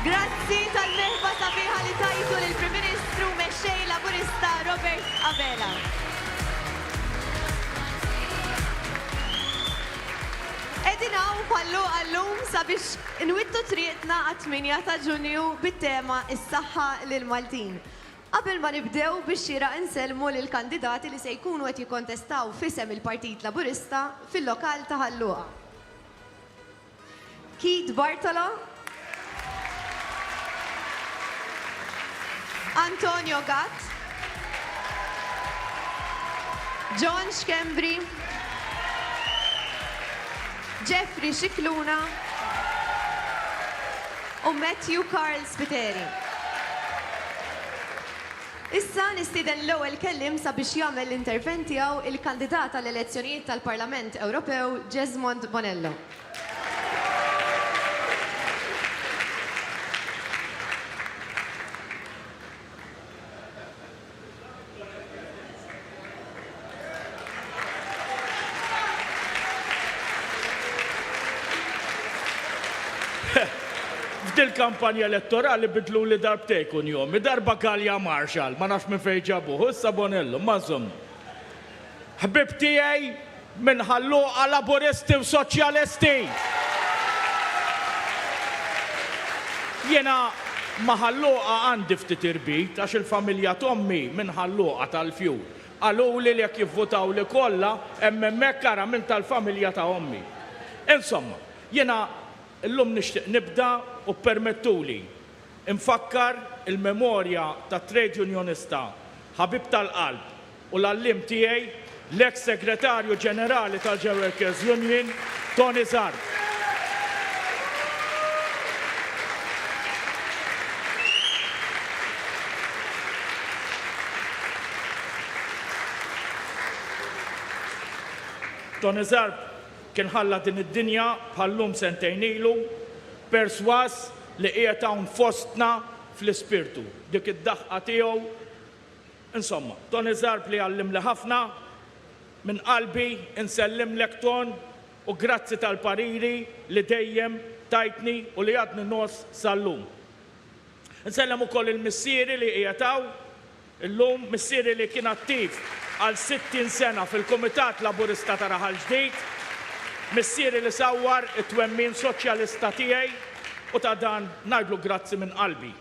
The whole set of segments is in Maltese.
Grazzi tal-merħba sabiħa li tajtu lill-Prim Ministru Mexxej Laburista Robert Abela. Qegħdin hawn pallu għallum sabiex nwittu triqtna għat-8 ta' Ġunju bit-tema Is-Saħħa lill-Maltin. Qabel ma nibdew biex xieraq insellmu lill-kandidati li se jkunu qed jikkontestaw f'isem il-Partit Laburista fil-lokal ta' Ħal Luqa. Keith Bartolo, Antonio Gatt, John Schembri, Jeffrey Scicluna u Matthew Karl Spiteri. Issa nistieden l-ewwel kelliem sabiex jagħmel l-intervent tiegħu il-kandidat għall-elezzjonijiet tal-Parlament Ewropew Jesmond Bonello. F'dil-kampanja elettorali bidluli darbtejn kunjomi, darba Galea Marshall, ma nafx minn fejn ġabuh, u issa Bonello, imma żommu. Ħbieb tiegħi Minn Ħal-Luqa, Laburisti u Soċjalisti. Jiena ma' Ħal-Luqa għandi ftit irbit għax il-familja t'ommi minn Ħal-Luqa tal-Fjur. Qaluli li jekk jivvutawli kollha hemm hemmhekk ara min tal-familja ta' ommi. Insomma, jiena llum nixtieq nibda u ppermettuli nfakkar il-memorja tat-trejdjunjonista ħabib tal-qalb, u l-għalliem tiegħi, l-eks Segretarju Ġenerali tal-Gerworkers Union, Tony Zarb. Tony Zarb kien ħalla din id-dinja bħal-lum sentejn ilu, persważ li qiegħed hawn fostna fl-ispirtu. Dik id-daħqa tiegħu Insomma, Tony Zarb li għallimli ħafna, minn qalbi nsellimlek Ton u grazzi tal-pariri li dejjem tajtni u li għadni ngħożż sal-lum. Nsellem ukoll lil missieri li qiegħed hawn illum, missieri li kien attiv għal 60 sena fil-Kumitat Laburista ta' Raħal Ġdid, missieri li sawwar it-twemmin soċjalista tiegħi u ta' dan ngħidlu grazzi minn qalbi.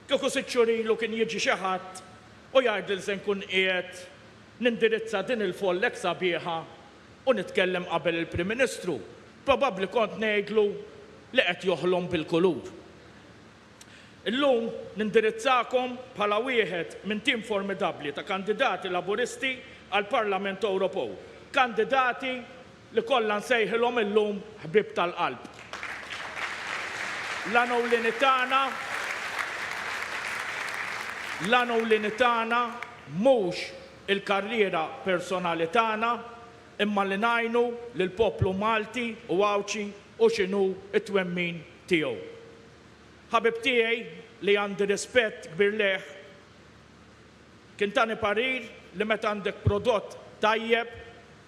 Kieku sitt xhur ilu kien jiġi xi ħadd u jgħidli se nkun qiegħed nindirizza din il-folla hekk sabiħa u nitkellem qabel il-Prim Ministru, probabbli kont ngħidlu li qed joħlom bil-kulur. Illum nindirizzakom bħala wieħed minn tim formidabbli ta' kandidati Laburisti għall-Parlament Ewropew, kandidati, li kollha nsejħilhom illum ħbieb tal-qalb. L-għan ewlieni tagħna l-għan ewlieni tagħna mhux il-karriera personali tagħna imma li ngħinu lill-poplu Malti u Għawdxi u x'inhu t-twemmin tiegħu. Ħabib tiegħi li għandi rispett kbir lejh Kien tani parir li meta għandek prodott tajjeb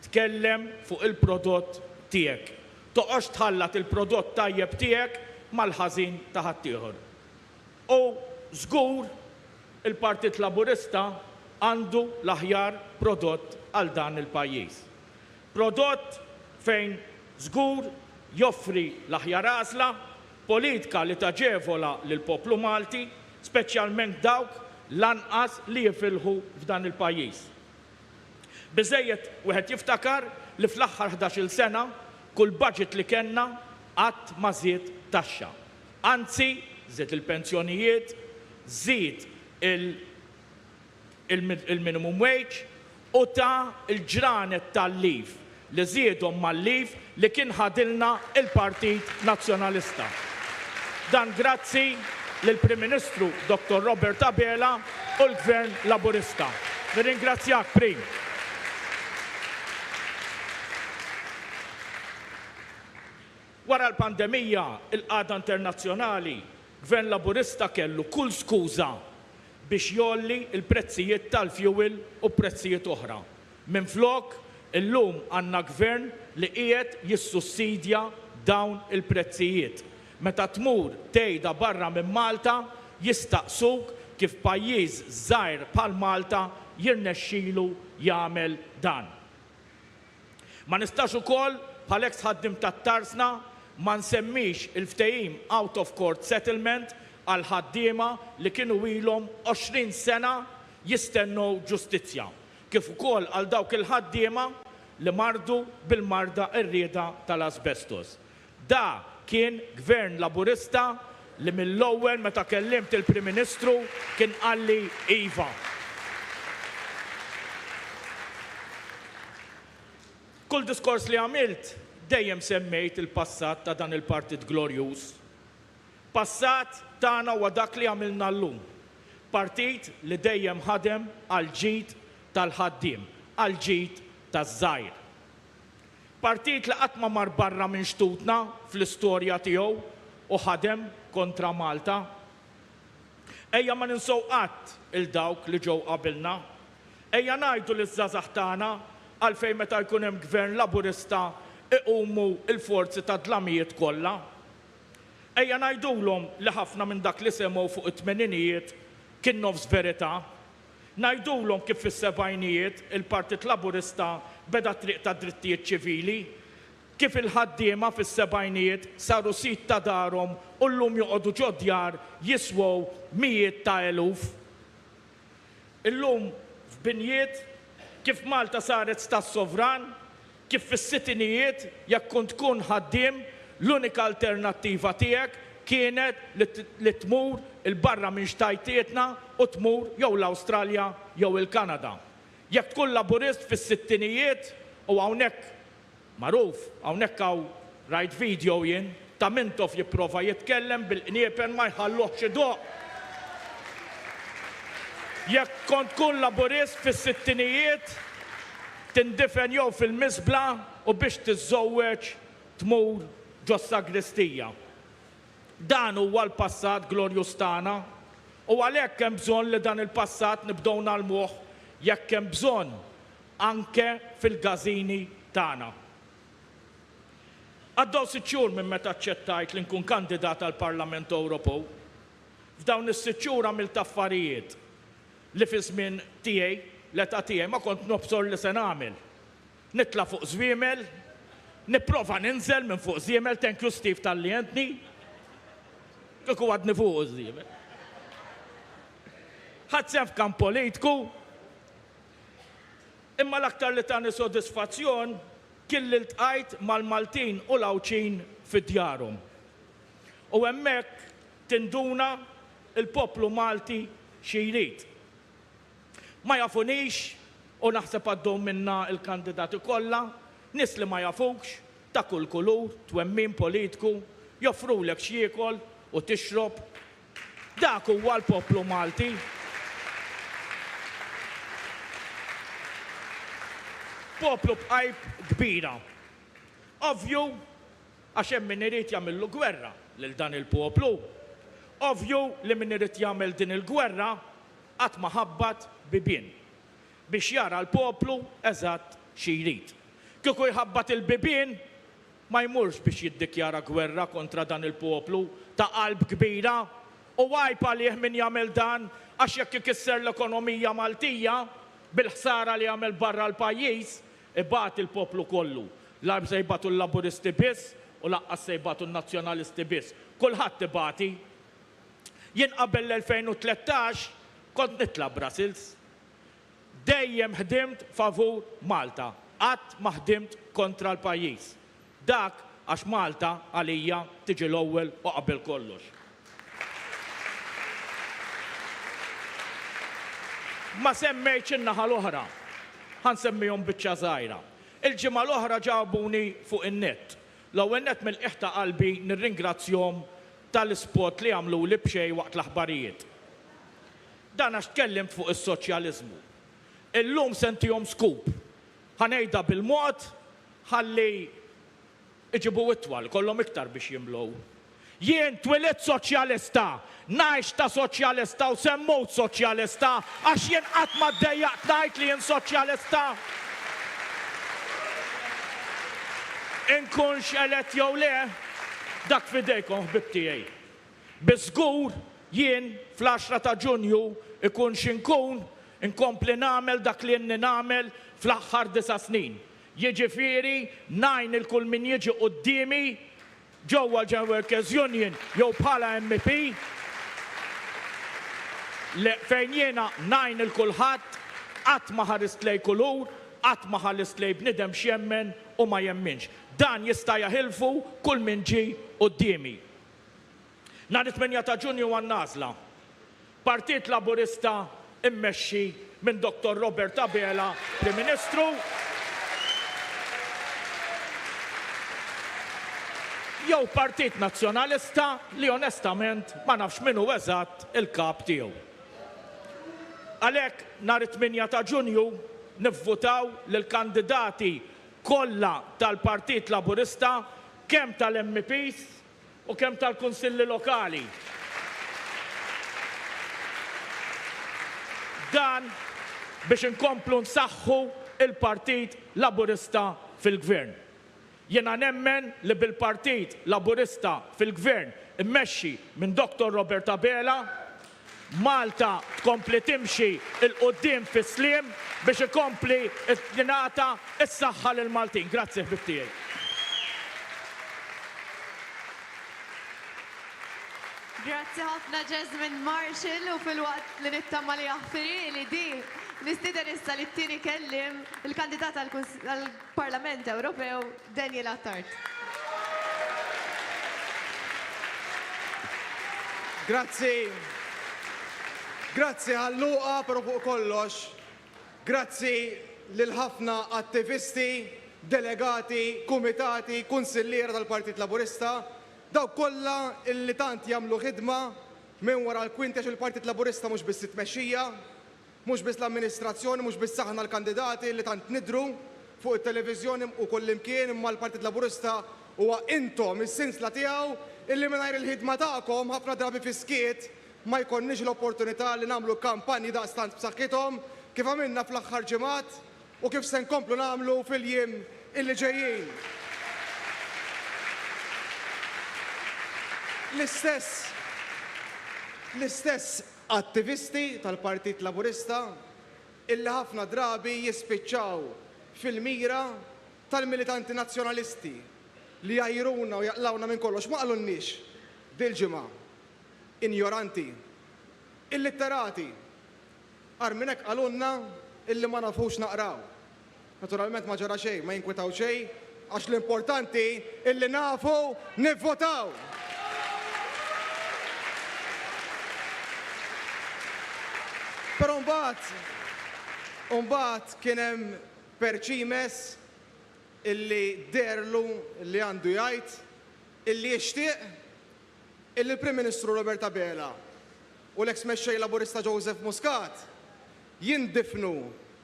tkellem fuq il-prodott tiegħek. Toqgħodx tħallat il-prodott tajjeb tiegħek mal-ħażin ta' ħaddieħor. U żgur il-Partit Laburista għandu l-aħjar prodott għal dan il-pajjiż. Prodott fejn żgur joffri l-aħjar għażla, politka li taġevola lill-poplu Malti, speċjalment dawk l-anqas li jifilħu f'dan il-pajjiż. Biżżejjed wieħed jiftakar li fl-aħħar ħdax-il sena kull budget li kellna qatt ma żied taxxa. Anzi, żied il-pensjonijiet, żied il. il-minimum wage u ta l-ġranet tal-leave li żiedhom mal-leave li kien ħadilna l-Partit Nazzjonalista. Dan grazzi lill-Prim Ministru Dottor Robert Abela u l-Gvern Laburista. Nirringrazzjak Prim. Wara l-pandemija, il-qagħda internazzjonali, Gvern Laburista kellu kull skuża biex jgħolli l-prezzijiet tal-fjuwil u prezzijiet oħra. Minflok, illum għandna Gvern li qiegħed jissussidja dawn il-prezzijiet. Meta tmur tgħidha barra minn Malta, jistaqsuk kif pajjiż żgħir bħal Malta jirnexxilu jagħmel dan. Ma nistax ukoll, bħal eks ħaddiem tat-Tarsna, ma nsemmix il-ftehim out of court settlement għall-ħaddiema li kienu ilhom 20 sena jistennew ġustizzja, kif ukoll għal dawk il-ħaddiema li mardu bil-marda qerrieda tal-asbestos. Da kien Gvern Laburista li mill-ewwel meta kellimt il-Prim Ministru kien qalli iva. Kull diskors li għamilt dejjem semmejt il-passat ta' dan il-Partit glorjuż. Passat tagħna huwa dak li għamilna llum. Partit li dejjem ħadem għall-ġid tal-ħaddiem, għall-ġid taż-żgħir. Partit li qatt ma mar barra minn xtutna fl-istorja tiegħu u ħadem kontra Malta. Ejja ma ninsew qatt 'il dawk li ġew qabilna. Ejja ngħidu liż-żgħażagħ tagħna għalfejn meta jkun hemm Gvern Laburista iqumu l-forzi tad-dlamijiet kollha. Ejja ngħidulhom li ħafna minn dak li semgħu fuq it-tmeninijiet kien nofs verità. Ngħidulhom kif fis-sebgħinijiet il-Partit Laburista beda t-triq tad-drittijiet ċivili? Kif il-ħaddiema fis-sebgħinijiet saru sid ta' darhom u llum joqogħdu ġo djar jiswew mijiet ta' eluf? Illum f'binjiet? Kif Malta saret Stat sovran? Kif fis-sittinijiet, jekk kont tkun ħaddiem, l-unika alternattiva tiegħek kienet li tmur 'il barra minn xtajtietna u tmur jew l-Awstralja jew il-Kanada. Jekk tkun Laburist fis-sittinijiet, u hawnhekk magħruf, hawnhekk hawn rajt video jien, Ta' Mintoff jipprova jitkellem bil-qniepen ma jħalluhx idoqq. Jekk kont tkun Laburist fis-sittinijiet, tindifen jew fil-miżbla u biex tiżżowweġ tmur ġos-sagristija. Dan huwa l-passat glorjuż tagħna u għalhekk hemm bżonn li dan il-passat nibdew ngħallmuh jekk hemm bżonn anke fil-gażini tagħna. Għaddew sitt xhur minn meta aċċettajt li nkun kandidat għall-Parlament Ewropew. F'dawn is-sitt xhur għamilt affarijiet li fiż-żmien tiegħi, l-età tiegħi ma kont nobsor li se nagħmel. Nitla' fuq żwiemel, nipprova ninżel minn fuq żiemel, thank you Steve talli għentni. Kieku għadni fuqu ż-żiemel. Ħadt sehem f'kamp politku. Imma l-aktar li tani sodisfazzjon kien li ltqajt mal-Maltin u l-Għawdxin fi djarhom. U hemmhekk tinduna l-poplu Malti xi jrid. Ma jafunix, u naħseb għaddew minnha l-kandidati kollha, nies li ma jafukx, ta' kull kulur, twemmin politku, joffrulek x'jiekol u tixrob, Dak huwa l-poplu Malti. Poplu b'qalb kbira. Ovvju, għax hemm min irid jagħmillu gwerra lil dan il-poplu. Ovvju li min irid jagħmel din il-gwerra qatt ma ħabbat bibien biex jara l-poplu eżatt xi jrid. Kieku jħabbat il-bibien, ma jmurx biex jiddikjara gwerra kontra dan il-poplu ta' qalb kbira, u għajb għalih min jagħmel dan, għax jekk ikisser l-ekonomija Maltija, bil-ħsara li għamel barra l-pajjiż, ibati il-poplu kollu. L-għajb se jbatu l-Laburisti biss u laqqas se jbatu n-Nazzjonalisti biss. Kulħadd ibati. Jien qabel l-2013 kont nitla' Brussels. Dejjem ħdimt favur Malta, qatt ma ħdimt kontra l-pajjiż. Dak għax Malta għalija tiġi l-ewwel u qabel kollox. Ma semmejtx in-naħa l-oħra. Ħa nsemmihom biċċa żgħira. Il-ġimgħa l-oħra ġabuni fuq in-nett. L-ewwel nett mill-qiegħ ta' qalbi nirringrazzjhom tal-ispot li għamluli b'xejn waqt l-aħbarijiet. Dan għax tkellimt fuq is-soċjaliżmu. Illum se ntihom scoop. Ħa ngħidha bil-mod ħalli iġibu itwal, ikollhom iktar biex jimlew. Jien twilidt soċjalista, ngħix ta' soċjalista u se mmut soċjalista għax jien qatt ma ddejjaqt ngħid li jien soċjalista. Inkunx elett jew le, dak f'idejkom ħbib tiegħi. Bi żgur jien fl-għaxra ta' Ġunju ikun xi nkun, inkompli nagħmel dak li inni nagħmel fl-aħħar disa' snin, jiġifieri ngħin lil kull min jiġi quddiemi ġewwa l-General Workers Union jew bħala MEP fejn jiena ngħin lil kulħadd, qatt ma ħarist lejn kulur, qatt ma ħallist lejn bniedem x'jemmen u ma jemminx. Dan jista' jaħilfu kull min ġie quddiemi. Nhar it-tmenya ta' Ġunju għan-nagħżla, Partit Laburista mmexxi minn Dottor Robert Abela Prim Ministru jew Partit Nazzjonalista li onestament ma nafx min hu eżatt il-kap tiegħu. Għalhekk nhar it-tmenya ta' Ġunju nivvutaw lill-kandidati kollha tal-Partit Laburista kemm tal-MEPs, u kemm tal-Kunsilli Lokali. Dan biex inkomplu nsaħħu l-Partit Laburista fil-Gvern. Jiena nemmen li bil-Partit Laburista fil-Gvern immexxi minn Dottor Robert Abela, Malta tkompli timxi 'l quddiem fis-sliem biex ikompli tingħata s-saħħa lill-Maltin. Grazzi ħbieb tiegħi. Grazzi ħafna Jesmond Marshall u filwaqt li nittama li jaħfirili di, nistieden issa lit-tieni kelliem, il-kandidat għall-Parlament Ewropew, Daniel Attard. Grazzi. Grazzi għal-lugħa, però fuq kollox grazzi lill-ħafna attivisti, delegati, kumitati, kunsilliera tal-Partit Laburista, dawk kollha li tant jagħmlu ħidma minn wara l-kwinti għax il-Partit Laburista mhux biss it-tmexxija, Mhux biss l-amministrazzjoni, mhux biss aħna l-kandidati li tant nidhru fuq it-televiżjoni u kullimkien imma l-Partit Laburista huwa intom, is-sinsla tiegħu illi mingħajr il-ħidma tagħkom, ħafna drabi fis-skiet, ma jkollniex l-opportunità li nagħmlu kampanji daqstant b'saħħithom kif għamilna fl-aħħar ġimgħat u kif se nkomplu nagħmlu fil-jiem illi ġejjin. L-istess, l-istess. Attivisti tal-Partit Laburista illi ħafna drabi jispiċċaw fil-mira tal-militanti Nazzjonalisti li jgħajruna u jaqlgħuna minn kollox ma qalulniex dil-ġimgħa injoranti, illitterati, agħar minn hekk qalulna illi ma nafux naqraw. Naturalment ma ġara xejn, ma jinkwetaw xejn għax l-importanti illi nafu nivvotaw! Però mbagħad, mbagħad kien hemm Percimes illi deherlu li għandu jgħid illi jixtieq illi l-Prim Ministru Robert Abela u l-eks Mexxej Laburista Joseph Muscat jindifnu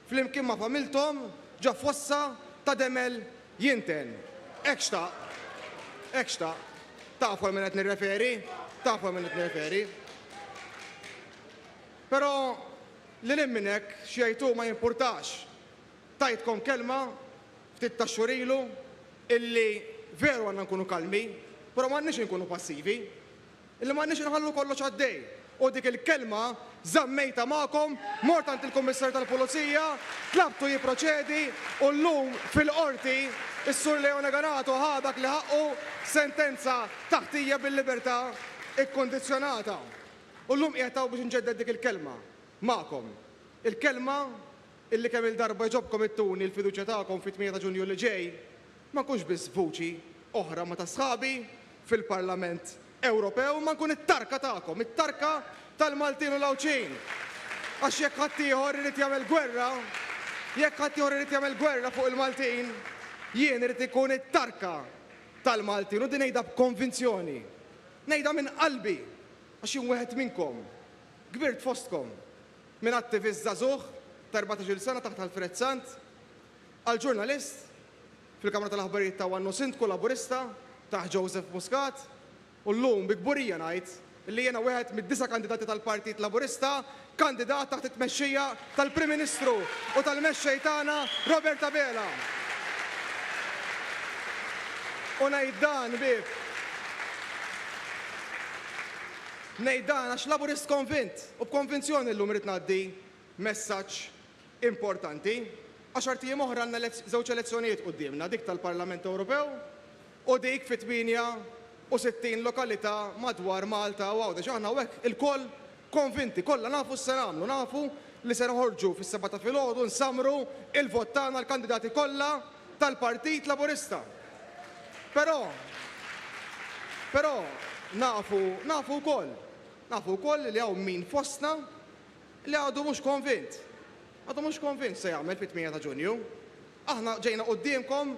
flimkien ma' familthom ġo fossa ta' demel jinten. Hekk xtaq. Hekk xtaq. Tafu għal min qed nirreferi. Tafu għal min qed nirreferi. Però lil hinn minn hekk, x'jgħid hu ma jimpurtax. Tajtkom kelma ftit tax-xhur ilu illi veru għandna nkunu kalmi, però m'għandniex inkunu passivi. Illi m'għandniex inħallu kollox għaddej. U dik il-kelma żammejtha magħkom, mort għand il-Kummissarju tal-Pulizija, tlabtu jipproċedi u llum fil-Qorti s-Sur Leone Ganato ħa dak li ħaqqu, sentenza ta' ħtija bil-libertà ikkundizzjonata. U llum qiegħed hawn biex inġedded dik il-kelma magħkom. Il-kelma Illi kemm-il darba jġobkom ittuni l-fiduċja tagħkom fit-tmienja ta' Ġunju li ġej, ma nkunx biss vuċi oħra ma' ta' sħabi fil-Parlament Ewropew imma nkun it-tarka tagħkom, it-tarka tal-Maltin u l-Għawdxin! Għax jekk ħaddieħor irid jagħmel gwerra, jekk ħaddieħor irid jagħmel gwerra fuq il-Maltin, jien irid inkun it-tarka tal-Maltin u din ngħidha b'konvinzjoni. Ngħidha minn qalbi għax jien wieħed minnkom. Kbirt fostkom. Minn attivist żagħżugħ ta' erbatax-il sena taħt Alfred Sant, għal ġurnalist fil-kamra tal-aħbarijiet ta' One u Sindku Laburista taħt Joseph Muscat, u llum bi kburija ngħid li jiena wieħed mid-disa' kandidati tal-Partit Laburista kandidat taħt it-tmexxija tal-Prim Ministru u tal-Mexxej tagħna Robert Abela. U ngħid dan bi ngħid dan għax Laburist konvint. U b'konvinzjoni llum irrid ngħaddi messaġġ importanti. Għaxart ijiem oħra għandna żewġ elezzjonijiet quddiemna, dik tal-Parlament Ewropew u dik fi 68 lokalità madwar Malta u Għawdex. Aħna hawnhekk ilkoll konvinti, kollha nafu x'se nagħmlu, nafu li se noħorġu fis-sebgħa ta' filgħodu nsammru l-vot tagħna għall-kandidati kollha tal-Partit Laburista. Però, però, nafu, nafu wkoll, Nafu wkoll li hawn min fostna li għadu mhux konvint. Għadu mhux konvint x'se jagħmel fit-tmienja ta' Ġunju. Aħna ġejna quddiemkom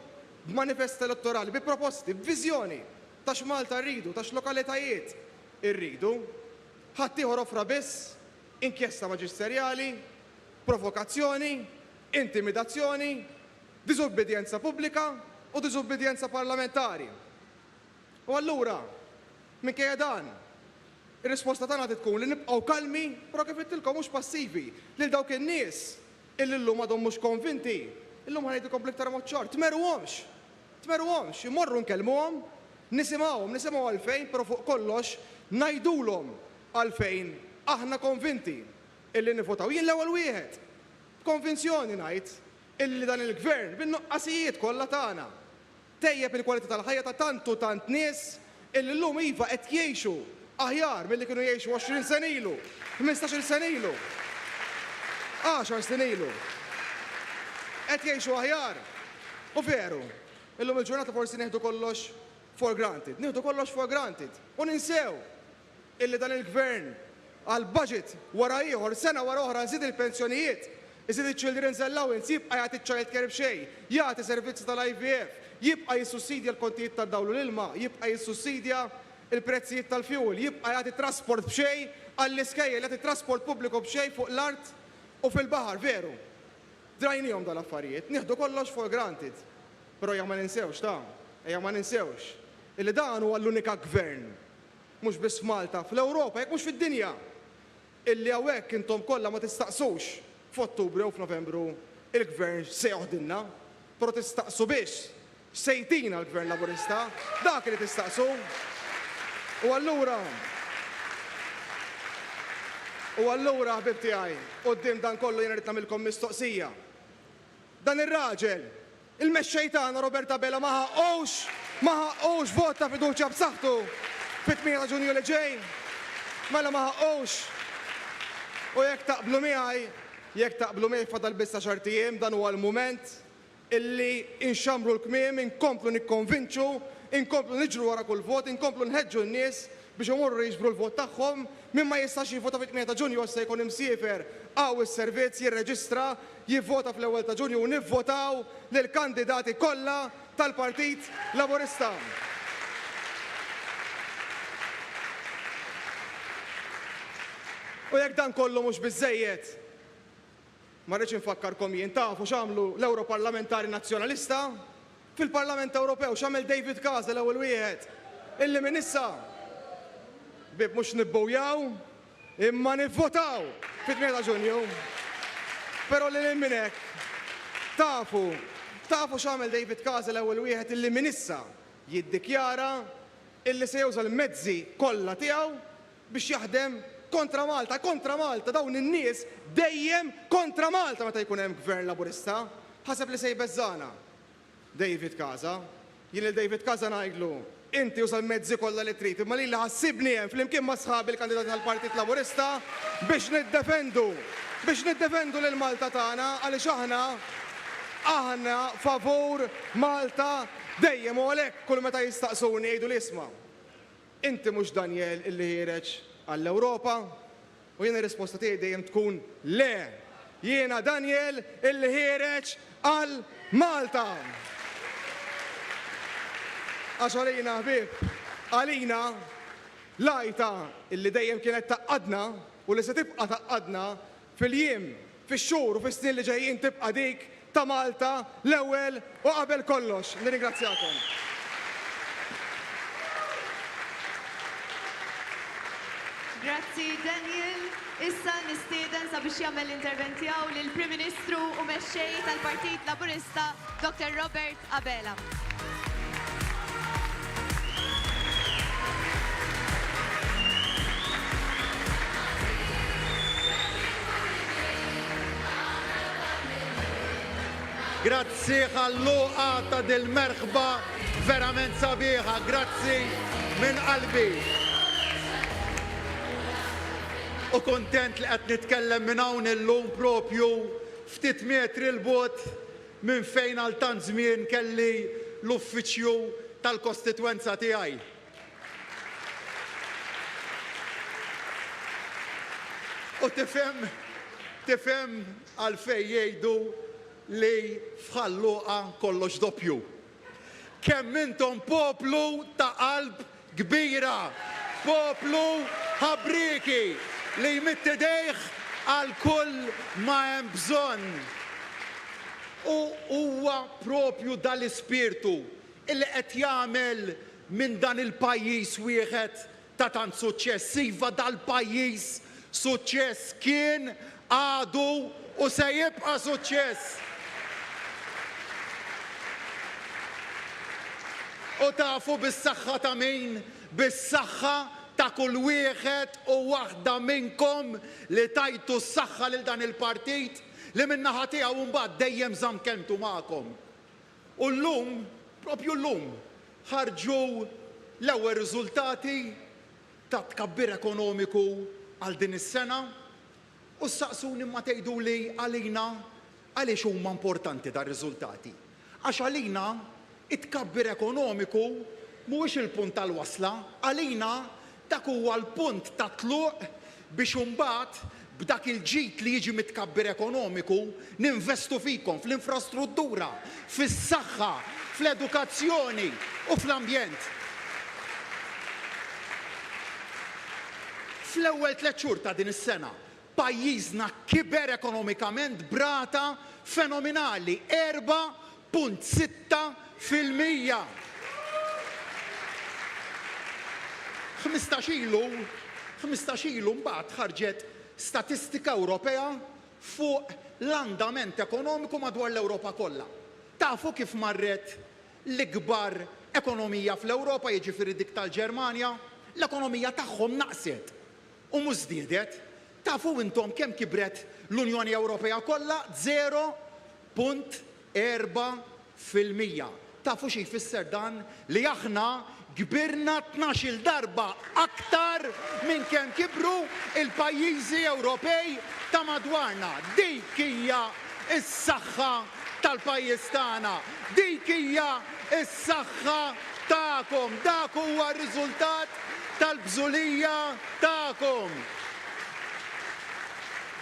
b'manifest elettorali, bi proposti, b'viżjoni ta' x'Malta rridu, ta' x'lokalitajiet irridu. Ħaddieħor offra biss inkjesta maġisterjali, provokazzjoni, intimidazzjoni, diżubbidjenza pubblika u diżubbidjenza parlamentari. U allura, minkejja dan, ir-risposta tagħna trid tkun li nibqgħu kalmi, però kif għidtilkom mhux passivi, lil dawk in-nies illi llum għadhom mhux konvinti, illum ħa ngħidilkom bl-iktar mod ċar, tmerruhomx! Tmerruhomx! Immorru nkellmuhom, nisimgħuhom, nisimgħu għalfejn, però fuq kollox ngħidulhom għalfejn aħna konvinti illi nivvotaw, jien l-ewwel wieħed, b'konvinzjoni ngħid illi dan il-Gvern, bin-nuqqasijiet kollha tagħna, Tejjeb il-kwalità tal-ħajja ta' tant u tant nies illi llum iva qed jgħixu aħjar milli kienu jgħixu għoxrin sena ilu, ħmistax-il sena ilu, għaxar snin ilu. Qed jgħixu aħjar. U veru, illum il-ġurnata forsi nieħdu kollox for granted. Nieħdu kollox for granted u ninsew illi dan il-Gvern għal budget wara ieħor, sena wara oħra nżid il-pensjonijiet, iżid iċ-children's allowance, jibqa' jagħti ċ-childcare b'xejn, jagħti servizzi tal-IVF, jibqa' jissussidja l-kontijiet tad-dawl u l-ilma, jibqa' jissussidja l-prezzijiet tal-fuel, jibqa' jagħti trasport b'xejn għall-iskejjel, jagħti trasport pubbliku b'xejn fuq l-art u fil-baħar, veru, drajniehom dawn l-affarijiet, nieħdu kollox for granted, però ejja ma ninsewx ta, ejja ma ninsewx illi dan huwa l-unika Gvern Mhux biss f'Malta, fl-Ewropa, jekk mhux fid-dinja! Illi hawnhekk intom kollha ma tistaqsux f'Ottubru jew f'Novembru il-Gvern x'se joħdilna, però tistaqsu biss x'se jtina l-Gvern Laburista, dak li tistaqsu! U allura, u allura, ħbieb tiegħi, quddiem dan kollu jiena rrid nagħmilkom mistoqsija. Dan ir-raġel, Il-Mexxej tagħna Robert Abela ma ħaqqux ma ħaqqux vot ta' fiduċja b'saħħtu fit-tmien ta' Ġunju li ġej. Mela ma ħaqqux. U jekk taqblu miegħi, jekk taqblu miegħi fadal biss għaxart ijiem, dan huwa l-mument illi inxammru l-kmiem, inkomplu nikkonvinċu, inkomplu niġru wara kull vot, inkomplu nħeġġu n-nies biex imorru jiġbru l-vot tagħhom. Min ma jistax jivvota fit-tmien ta' Ġunju issa jkun imsiefer, hawn is-servizz, jirreġistra, jivvota fl-ewwel ta' Ġunju u nivvotaw lill-kandidati kollha tal-Partit Laburista. U jekk dan kollu mhux biżżejjed, ma rridx infakkarkom jien, tafu x'għamlu l-Ewroparlamentari Nazzjonalista fil-Parlament Ewropew, x'għamel David Casa l-ewwel wieħed illi minn issa, ħbieb mhux nibbujaw, Imma nivvotaw fit-8 ta' Ġunju. Però lil hinn minn hekk, tafu, tafu x'għamel David Casa l-ewwel wieħed illi minn issa jiddikjara illi se juża l-mezzi kollha tiegħu biex jaħdem kontra Malta, kontra Malta, dawn in-nies dejjem kontra Malta meta jkun hemm Gvern Laburista, ħaseb li se jbeżżagħna. David Casa, Jien lil David Casa ngħidlu, inti uża l-mezzi kollha li trid, imma lili ħassibni hemm flimkien ma' sħabi l-kandidati tal-Partit Laburista biex niddefendu, biex niddefendu lil Malta tagħna għaliex aħna, aħna favur Malta dejjem u għalhekk kull meta jistaqsuni jgħiduli isma', inti mhux Daniel illi ħiereġ għall-Ewropa? U jien ir-risposta tiegħi dejjem tkun le! Jiena Daniel illi ħiereġ għal Malta! Għax għalina ħbieb, għalina, l-għajta illi dejjem kienet tgħaqqadna u li se tibqa' tgħaqqadna fil-jiem Fix-xhur u fis-snin li ġejjin tibqa' dik ta' Malta l-ewwel u qabel kollox. Nirringrazzjakom. Grazzi Daniel. Issa nistieden sabiex jagħmel l-intervent tiegħu lill-Prim Ministru u Mexxej tal-Partit Laburista, Dottor Robert Abela. Grazzi għall-luqa ta' dil-merħba verament sabiħa. Grazzi minn qalbi. U kuntent li qed nitkellem minn hawn illum propju ftit metri 'l bogħod Minn fejn għal tant żmien kelli l-uffiċċju tal-kostitwenza tiegħi. U tifhem, tifhem għalfejn jgħidu li f'Ħal Luqa kollox doppju. Kemm intom poplu ta' qalb kbira, poplu ħabrieki li jmidd idejh għal kull ma hemm bżonn. U huwa propju dal-ispirtu li qed jagħmel minn dan il-pajjiż wieħed ta' tant suċċess. Iva dal-pajjiż suċċess kien, għadu u se jibqa' suċċess. U tafu bis-saħħa ta' min? Bis-saħħa ta' kull wieħed u waħda minnkom li tajtu s-saħħa lil dan il-partit li min-naħa tiegħu mbagħad dejjem żamm kelmtu magħkom. U llum, propju llum, ħarġu l-ewwel riżultati tat-tkabbir ekonomiku għal din is-sena u ssaqsuni imma tgħiduli għalina għaliex huma importanti dar-riżultati. Għax għalina t-tkabbir ekonomiku mhuwiex il-punt tal-wasla, għalina Dak huwa l-punt tat-tluq biex imbagħad b'dak il-ġid li jiġi mit-tkabbir ekonomiku ninvestu fikom, fl-infrastruttura, fis-saħħa, fl-edukazzjoni u fl-ambjent. Fl-ewwel tliet xhur ta' din is-sena, Pajjiżna kiber ekonomikament b'rata fenominali, erba' punt sitta fil-mija. Ħmistax ilu, ħmistax ilu mbagħad ħarġet statistika Ewropea fuq l-andament ekonomiku madwar l-Ewropa kollha. Tafu kif marret l-ikbar ekonomija fl-Ewropa, jiġifieri dik tal-Ġermanja? L-ekonomija tagħhom naqset. U mhux żdiedet. Tafu intom kemm kibret l-Unjoni Ewropea kollha? Żero punt erba' fil-mija. Tafu xi jfisser dan? Li aħna kbirna tnax-il darba aktar minn kemm kibru l-pajjiżi Ewropej ta' madwarna. Dik hija s-saħħa tal-pajjiż tagħna. Dik hija Is-saħħa tagħkom. Dak huwa r-riżultat tal-bżulija tagħkom.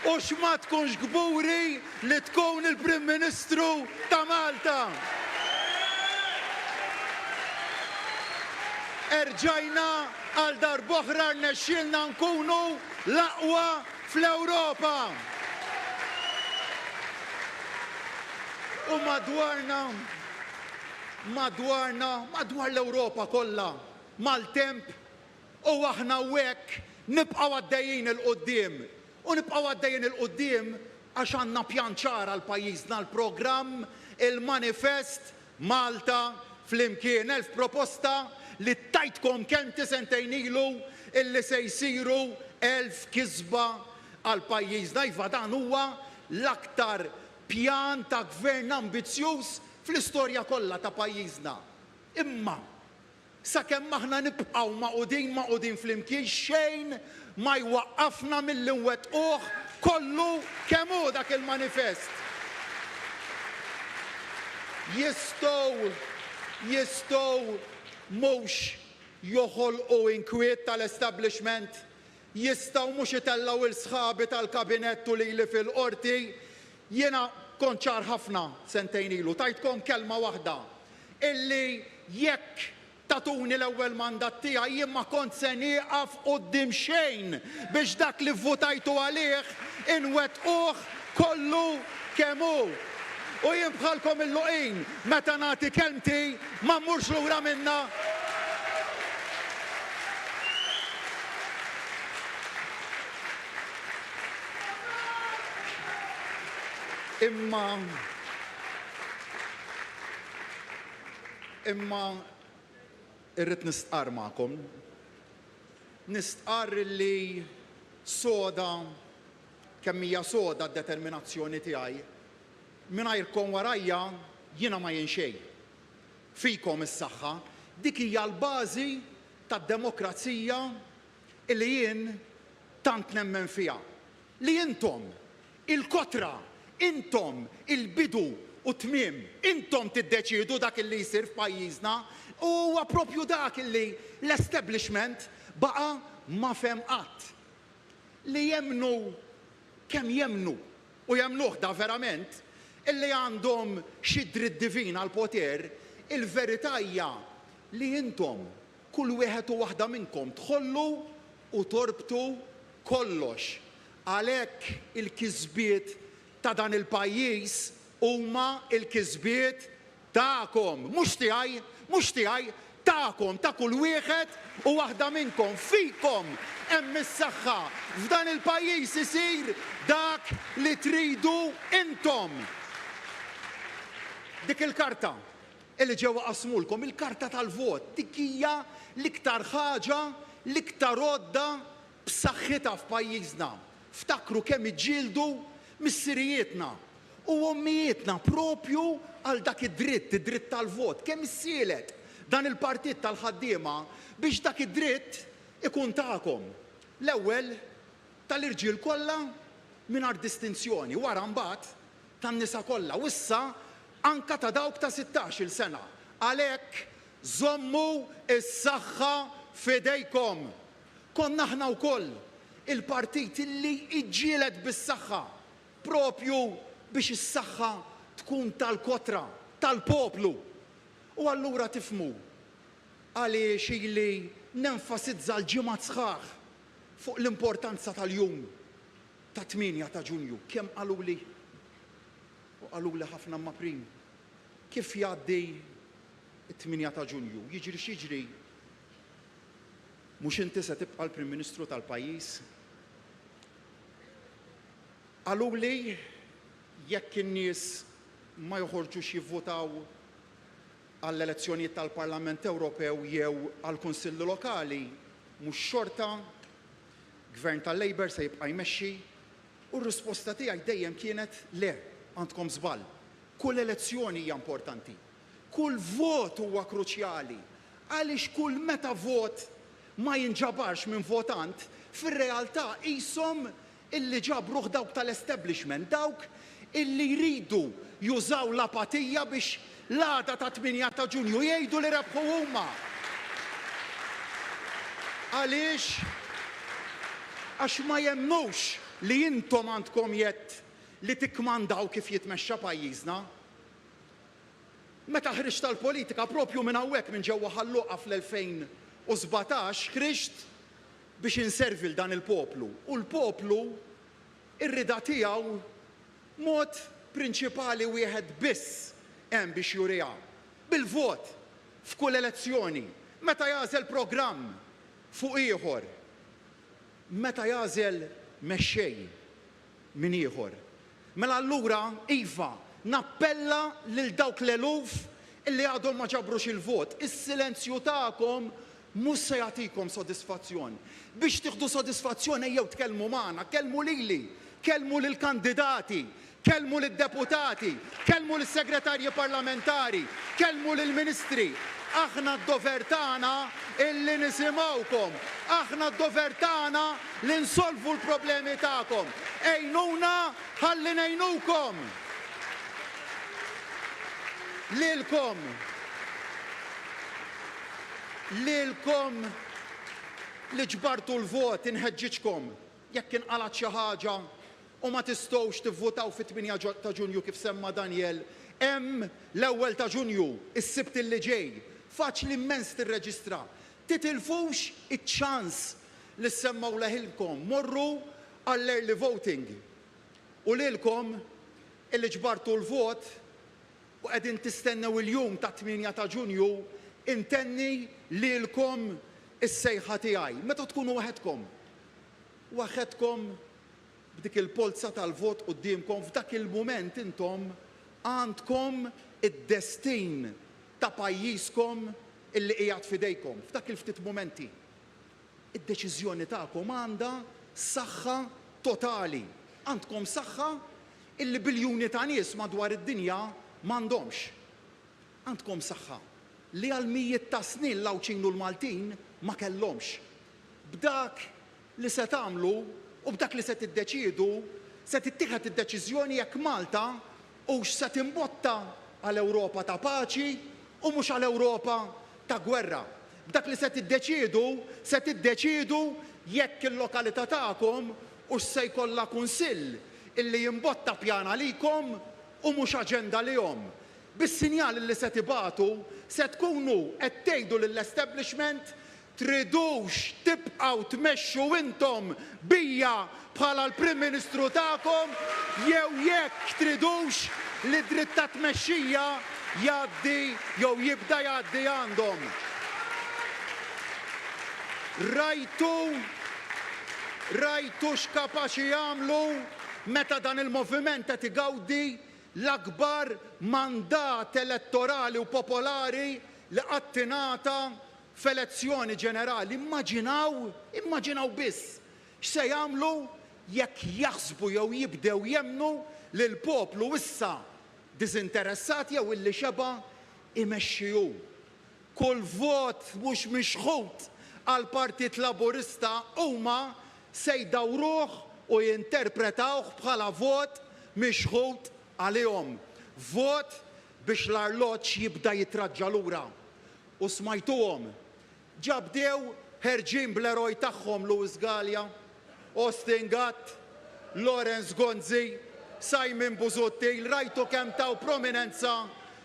U x'ma tkunx kburi li tkun il-Prim Ministru ta' Malta. Erġajna għal darb'oħra rnexxielna nkunu l-aqwa fl-Ewropa. U madwarna madwarna, madwar l-Ewropa kollha, maltemp u aħna u hekk nibqgħu għaddejjin 'il quddiem. U nibqgħu għaddejjin 'il quddiem għax għandna pjan ċar għal pajjiżna, l-programm, il-manifest Malta Flimkien. Elf proposta li tajtkom kelmti sentejn ilu illi se jsiru elf kisba għal pajjiżna. Iva dan huwa l-aktar Pjan ta' gvern ambizzjuż fl-istorja kollha ta' pajjiżna. Imma, sakemm aħna nibqgħu magħqudin magħqudin flimkien xejn ma jwaqqafna milli nwettquh kollu kemm hu dak il-manifest. Jistgħu jistgħu mhux joħolqu inkwiet tal-establishment Jistgħu mhux itellgħu lil sħabi tal-kabinett u lili fil-Qorti? Jiena kont ċar ħafna sentejn ilu, tajtkom kelma waħda, illi jekk tagħtuni l-ewwel mandat tiegħi jien ma kont se nieqaf quddiem xejn biex dak li vvutajtu għalih inwettquh kollu kemm hu. U jien bħalkom illuqin, meta nagħti kelmti Ma mmurx lura minnha. Imma imma irrid nistqarr magħkom. Nistqarr illi soda kemm hija soda d-determinazzjoni tiegħi Mingħajrkom warajja jiena ma jien xejn. Fikom is-saħħa. Dik hija l-bażi tad-demokrazija li jien tant nemmen fiha. Li intom, il-kotra, intom il-bidu u t-tmiem. Intom tiddeċiedu dak li jsir f'pajjiżna u huwa proprju dak li l-establishment baqa' ma fehem qatt. Li jemmnu kemm jemmnu. u jemmnuh daverament, illi għandhom xi dritt divin għall-poter, il-verità hija li intom, kull wieħed u waħda minnkom, tħollu u torbtu kollox. Għalhekk il-kisbiet ta' dan il-pajjiż huma l-kisbiet Tagħkom, mhux tiegħi, mhux tiegħi, tagħkom, ta' kull wieħed u waħda minnkom. Fikom hemm is-saħħa. F'dan il-pajjiż isir dak li tridu intom. Dik il-karta li ġew iqassmulkom, il-karta tal-vot, dik hija l-iktar ħaġa, l-iktar għodda b'saħħitha f'pajjiżna, ftakru kemm iġġieldu missirijietna u ommijietna proprju għal dak id-dritt, id-dritt tal-vot, kemm issielet dan il-Partit tal-Ħaddiema biex dak id-dritt ikun tagħkom, l-ewwel tal-irġiel kollha mingħajr distinzjoni, wara mbagħad tan-nisa kollha u issa anke ta' dawk ta' sittax-il sena. Għalhekk żommu s-saħħa f'idejkom! Konna aħna wkoll il-partit li ġġieled bis-saħħa proprju biex is-saħħa tkun tal-kotra, tal-poplu. U allura tifhmu għaliex ili nenfasizza għal ġimgħat sħaħ fuq l-importanza tal-jum tat-tmienja ta' Ġunju. Kemm qaluli, u qaluli ħafna Maprin, kif jgħaddi t-tmienja ta' Ġunju, jiġri x'jiġri, Mhux inti se tibqa' l-Prim Ministru tal-pajjiż? Qaluli jekk in-nies ma joħorġux jivvutaw għall-elezzjonijiet tal-Parlament Ewropew jew għall-Kunsilli Lokali, mhux xorta Gvern tal-Labour se jibqa' jmexxi? U r-risposta tiegħi dejjem kienet le, għandkom żball. Kull elezzjoni hija importanti. Kull vot huwa kruċjali għaliex kull meta vot ma jinġabarx minn votant, fir-realtà qishom illi ġabruh dawk tal-establishment, dawk illi jridu jużaw l-apatija biex l-għada ta' 8 ta' Ġunju jgħidu li rebħu huma. Għaliex? Għax ma jemmnux li intom għandkom jedd li tikkmandaw kif jitmexxa pajjiżna. Meta ħriġt għall-politika, proprju minn hawnhekk minn ġewwa Ħal Luqa fl-2017, ħriġt biex inservi 'l dan il-poplu u l-poplu r-rieda tiegħu mod prinċipali wieħed biss hemm biex juriha, bil-vot f'kull elezzjoni, meta jagħżel programm fuq ieħor, meta jagħżel mexxej. minn ieħor. Mela allura, iva, nappella lil dawk l-eluf li għadhom ma ġabrux il-vot, is-silenzju tagħkom mhux se jagħtikom sodisfazzjon. Biex tieħdu sodisfazzjon ejjew tkellmu magħna, kellmu lili, kellmu lill-kandidati, kellmu lid-deputati, kellmu lis-segretarji parlamentari, kellmu lill-ministri. Aħna d-dover tagħna li nisimgħukom. Aħna d-dover tagħna li nsolvu l-problemi tagħkom. Għinuna ħalli ngħinukom! Lilkom Lilkom li ġbartu l-vot inħeġġiġkom jekk inqalgħet xi ħaġa u ma tistgħux tivvutaw fit-tmienja ġo ta' Ġunju kif semma Daniel, hemm l-ewwel ta' Ġunju, is-Sibt li ġej. Faċli mmens tirreġistra. Titilfux iċ-ċans li ssemmgħu leħinkom, morru għall-early voting. U lilkom illi ġbartu l-vot u qegħdin tistennew il-jum tat-tmienja ta' Ġunju, intenni lilkom is-sejħa tiegħi, meta tkunu waħedkom, waħedkom b'dik il-polza tal-vot quddiemkom, f'dak il-mument intom għandkom id-destin ta' pajjiżkom li qiegħed f'idejkom f'dak il-ftit mumenti. Id-deċiżjoni tagħkom għandha saħħa totali. Għandkom saħħa li biljuni ta' nies madwar id-dinja m'għandhomx. Għandkom saħħa li għal mijiet ta' snin l-Għawdxin u l-Maltin ma kellhomx. B'dak li se tagħmlu u b'dak li se tiddeċiedu se tittieħed id-deċiżjoni jekk Malta hux se timbotta għal Ewropa ta' paċi u mhux għal Ewropa ta' gwerra. B'dak li se tiddeċiedu se tiddeċiedu jekk il-lokalità tagħkom hux se jkollha kunsill illi jimbotta pjan għalikom u mhux aġenda lihom. Bis-sinjal illi se tibagħtu se tkunu qed tgħidu lill-establishment Tridux tibqgħu tmexxu intom bija bħala l-Prim Ministru tagħkom jew jekk tridux li d-dritt ta' tmexxija jgħaddi jew jibda jgħaddi għandhom. Rajtu rajtu x'kapaċi jagħmlu meta dan il-moviment qed igawdi l-akbar mandat elettorali u popolari li qatt ingħata F'elezzjoni ġenerali immaġinaw, immaġinaw biss, x'se jagħmlu jekk jaħsbu jew jibdew jemmnu li l-poplu issa diżinteressat jew illi xeba' imexxi hu. Kull vot mhux mixħut għall-Partit Laburista huma se jdawruh u jinterpretawh bħala vot mixħut għalihom. Vot biex l-arloġġ jibda jitraġġa lura. U smajtuhom. Ġa bdew ħerġin bl-eroj tagħhom Louis Galea, Austin Gatt, Lawrence Gonzi, Simon Busuttil, rajtu kemm taw prominenza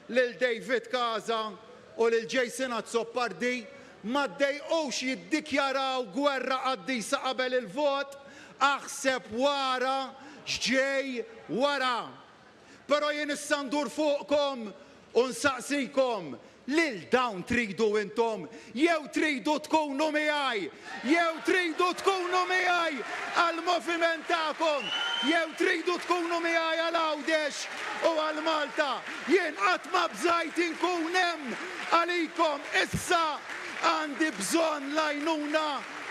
lil David Casa u lil Jason Azzopardi, ma ddejqux jiddikjaraw gwerra qaddisa qabel il-vot, aħseb wara x'ġej wara. Però jien issa ndur fuqkom u nsaqsikom, lil dawn tridu intom jew tridu tkunu miegħi? Jew tridu tkunu miegħi għall-moviment tagħkom? Jew tridu tkunu miegħi għal Għawdex u għal Malta? Jien qatt ma bżajt inkun hemm għalikom, issa għandi bżonn l-għajnuna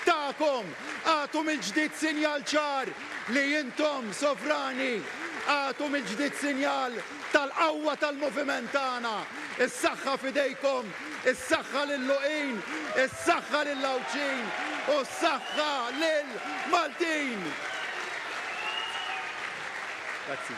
tagħkom. Agħtu mill-ġdid sinjal ċar li intom, sovrani, agħtu mill-ġdid sinjal tal-qawwa tal-moviment tagħna. Is-saħħa f'idejkom, is-saħħa lill-Luqin, is-saħħa lill-Għawdxin u s-saħħa lill-Maltin! Grazzi.